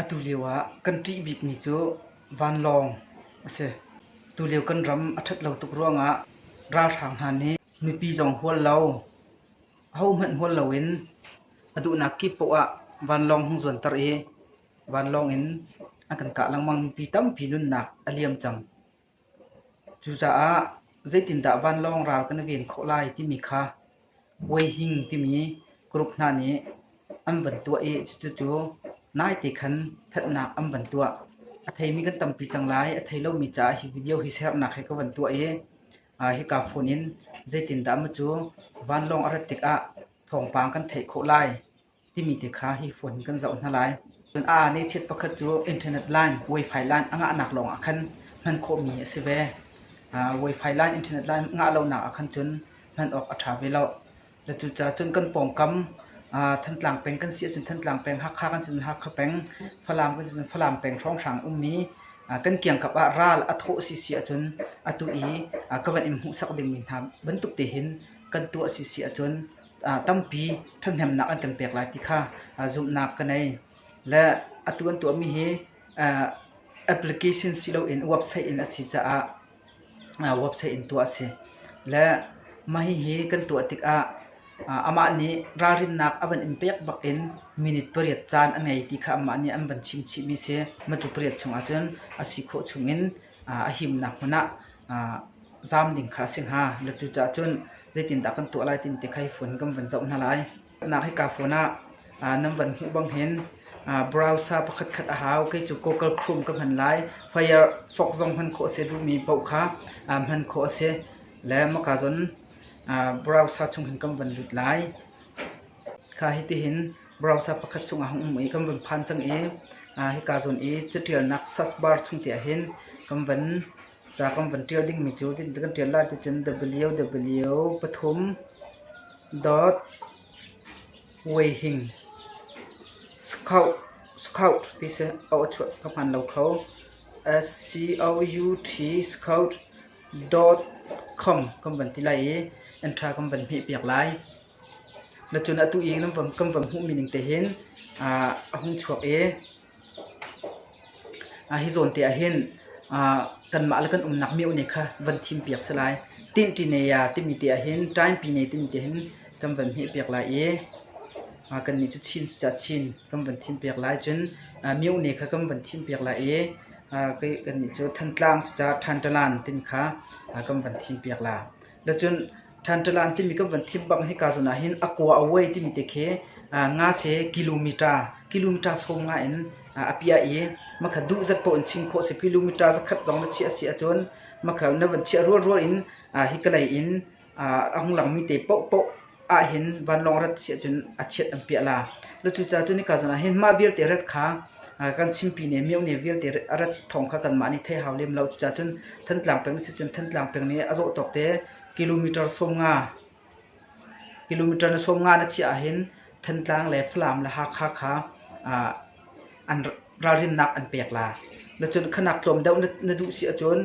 Atulio ah kan ṭih bikmi cu vanlawng a si. Tulio kan ram a ṭhat lo tuk ruangah ralhrang hna nih mipi zong hual lo, ahohmanh hual loin a duhnak kip paoh ah vanlawng hung zuanter i vanlawng in an kan kah lengmang. Mipi tampi nunnak a liam cang. Cucaah zeitindah vanlawng ral kan i ven khawh lai timi kha Puai Hning timi group hna nih an van tuah i cucu naite khan thatnak an van tuah. A theimi kan tampi cang lai. A thei lomi caah hi video hi sernak he ka van tuah i hika phone in zeitindah macu vanlawng a rat tikah thawngpang kan theih khawh lai. timi te kha hi phone in kan zoh hna lai. Cun aa nechiat pakhat cu internet line, wifi line a ngahnak lawng ah khan hman khawhmi a si ve. Uh, wifi line, internet line ngah lonak ah khan cun hman awk a ṭha ve lo. Le cucaah cun kan pawngkam uh, Thantlang peng kan si ahcun Thantlang peng, Hakha kan si ahcun Hakha peng, Falam kan si ahcun Falam peng hrawnghrang ummi uh, kan kiangkap ah ral a thawh si si ahcun atu i uh, ka van in hmuhsak dingmi hna bantuk tehin kan tuah si si ahcun tampi ṭhathnemnak an kan pek lai ti kha zumhnak ka ngei. Le atu an tuahmi hi application si loin website in a si caah website in tuah a si. Le mah hihi kan tuah tikah amah nih ralrinnak a van in pek bakin minute pariat caan a ngei ti kha amah nih an van chim chihmi a si. Matu pariat chung ahcun a si khawh chungin a himnak hmun ah zaam ding kha a si hnga. Na cucaah cun zeitindah kan tuah lai timi te kha hi phone kan van zoh hna lai. Nak hika phone ah nan van hmuh bang hin browser pakhat khat a hau. Kei cu Google Chrome ka hman lai. Firefox zong hman khawh a si, duhmi paoh kha hman khawh a si. Le Amazon browser chung hin kan van lut lai. Kha hitihin browser pakhat chungah hung um i kan vun phan cang i hika zawn i catialnak search bar chung te ahhin kan van ca kan van ṭial dingmi cu kan ṭial lai ticun www.weihing.scout ti si auh a chuah ka hmaan lo kho scout.com kan van ti lai i entra kan van hmehpiak lai. Na cun atu i kan van hmuhmi ning te hin a hung chuak i hi zawnte ah hin kanmah le kan umnak miohne kha van thimpiak si lai. Tinṭi ne ya timi te ah hin ṭaingpi ne timi te hin kan van hmehpiak lai i kannih cu Chin si caah Chin kan van thimpiak lai. Cun miohne kha kan van thimpiak lai i kannih cu Thantlang si caah Ṭhanṭalan timi kha kan van thimpiak lai. Dacun Ṭhanṭalan timi kan von thim bang hika zawn ah hin a kua a uai timi te khi ngase kilometer kilometer sawm nga in a piah i makha duh zat paoh in chim khawh a si. Kilometer zakhat lawng na chiah a si ahcun makha na von chiah rualrual in hi kalei in a hung langmi te paohpaoh ahhin vanlawng rat si ahcun a chiat an piah la. Cucaah cun hika zawn ahhin mah vialte rat kha kan chimpi ne, myohne vialte rat thawng kha kanmah nih thei hau lem lo. Cucaah cun Thantlang peng si cun Thantlang peng nih a zawh tawk te kilometre sawm nga, kilometre na sawm nga na chiah ahhin Thantlang le Falam le Hakha kha an ralrinnak an pek la. Cun khanak tlawm deuh na duh si ahcun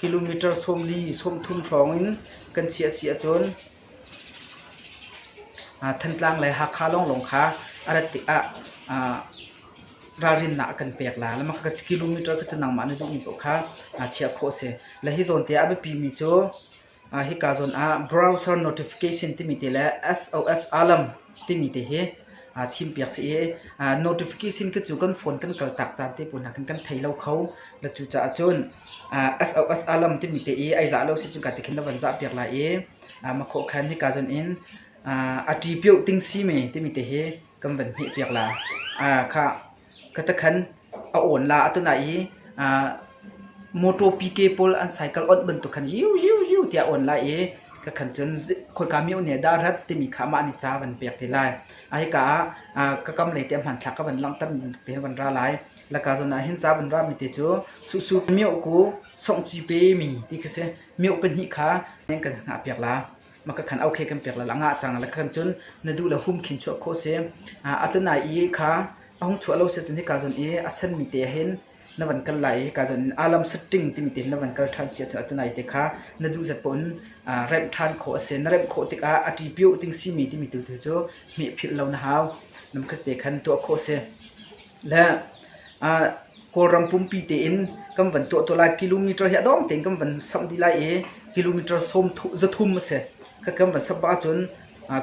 kilometre sawm li, sawm thum hrawng in kan chiah si ahcun Thantlang le Hakha lawnglawng kha a rat tikah ralrinnak a kan pek lai. Mah kha kilometre kha cu nangmah na duhmi paoh kha chiah khawh a si. Le hi zawn te ah a biapimi cu hika zawn ah browser notification timi te le SOS alarm timi te hi aa thim piak si i notification cu kan phone kan kal tak caan te pawl hna khan kan thei lo kho la cu caah cun SOS alarm timi te i ai zah lo si cun ka ti khin na van zah piak lai i makhawh khan hika zon in a ṭi piuh ting si me timi te hi kan van hmih piak la kha katakhan a awn la a tunai i motor PK pawl an cycle onh bantuk khan yiu yiu yiu tiah awn lai i ka khan cun khoika miohne ah dah rat timi kha mah nih ca van pek te lai a hika ah ka kam lei te hmanthlak ka van langhter bantuk te van ra lai laka zawn ah hin ca van ra mi te cu susu mioh ku songh ci pe mi ti khi si mioh pahnih kha kan hngah piak la maka khan aukhe kan pek lala ngah cang la khan cun na duh la hum khin chuah kho si atunai i kha a hung chuah lo se cun hika zon i a sen mi te hin na van kal lai hika zon alam setting timi te na van kal than si cun atunai te kha na duh zat pun remh than kho ase na remh kho tikah a ti pio ting si mi timi tu tu cu hmeh phil lo na hau nam khat te khan tuah kho se le Kawlram pumpi tein kan van tuah tuah lai. Kilometer hi a dawng tein kan van samh dih lai i kilometer sawm zathum a si. Kan van samh bak ahcun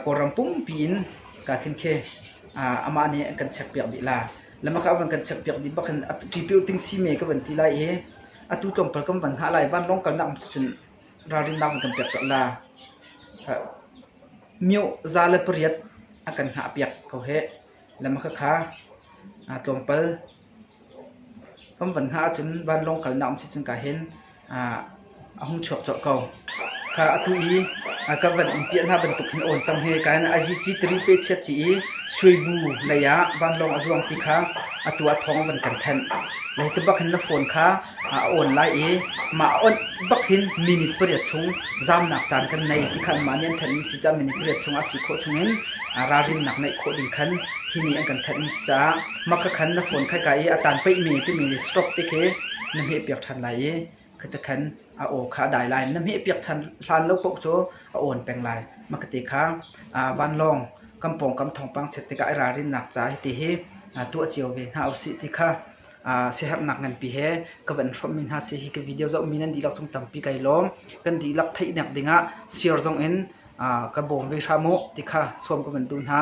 Kawlram pumpi in kaa thin khi amah nih an kan chekpiak dih lai. Lamaka van kan chekpiak dih bak in Ṭipil tingsi me ka van ti lai i atu tlawmpal kan van hngah lai. Vanlawng kalnak um cun ralrinnak an kan pek colh la. Mioh za le pariat a kan hngahpiak ko hih. lam a ka kha. Aa tlawmpal. Ka um van hna ahcun vanlawng kalnak um si cun ka hin aa a hung chuak colh ko. Kha atu hi aa ka van um piah hna bantuk hin a awn cang hi. Ka hin IGC Tari pechiat ti i Suibu lei ah vanlawng a zuang ti kha atu ah thawng a van kan thanh. Lei te bak hin na phone kha a awn lai i mah a awnh bak hin minute pariat chung zaamnak caan kan nei ti kha anmah nih an thanhmi si caah minute pariat chung ah si khawh chungin ralrinnak ngeih khawh ding khan hi nih an kan thanhmi si caah mah kha khan na phone khai ka i a tan peihmi timi stop ti khi na hmeh piak ṭhan lai i khata khan a aw kha a dai lai na hmeh piak chan hlan lo paoh cu a awn peng lai mah kate kha vanlawng kampong kam thawngpang chet tikah i ralrinnak ca hiti hi tuah cio ve hna usih ti kha uh, siherhnak nganpi he ka van hrawmmi hna si hi ka video zohmi nan dihlak cung tampi kai lawm kan dihlak theihnek dingah share zong in uh, ka bawm ve hram u ti kha sawm ka van tu hna